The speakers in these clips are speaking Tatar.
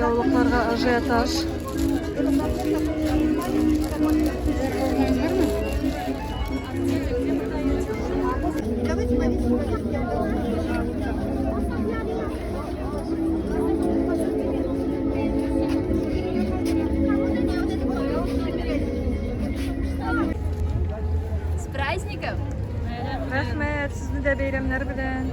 Яулыкларга ажиотаж. С праздником! Рәхмәт, сезне дә бәйрәмнәр белән.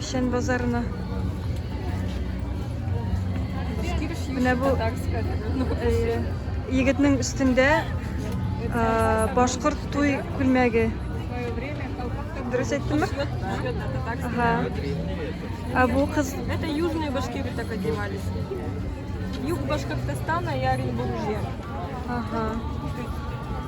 Печән базарына. Менә бу егетнең өстендә башкорт туй күлмәге. Дөрес әйттемме? Ага. А бу кыз... Это южные башки вот так одевались. Юг Башкортостана и Оренбуржья. Ага.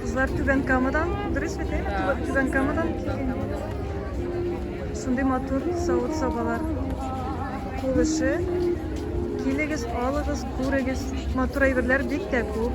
Кызлар түбән камадан, дөрес бит, әйме? Түбән камадан килгән. Шундый матур савыт-сабалар. Кул эше. Килегез, алыгыз. Күрегез, матур әйберләр бик тә күп.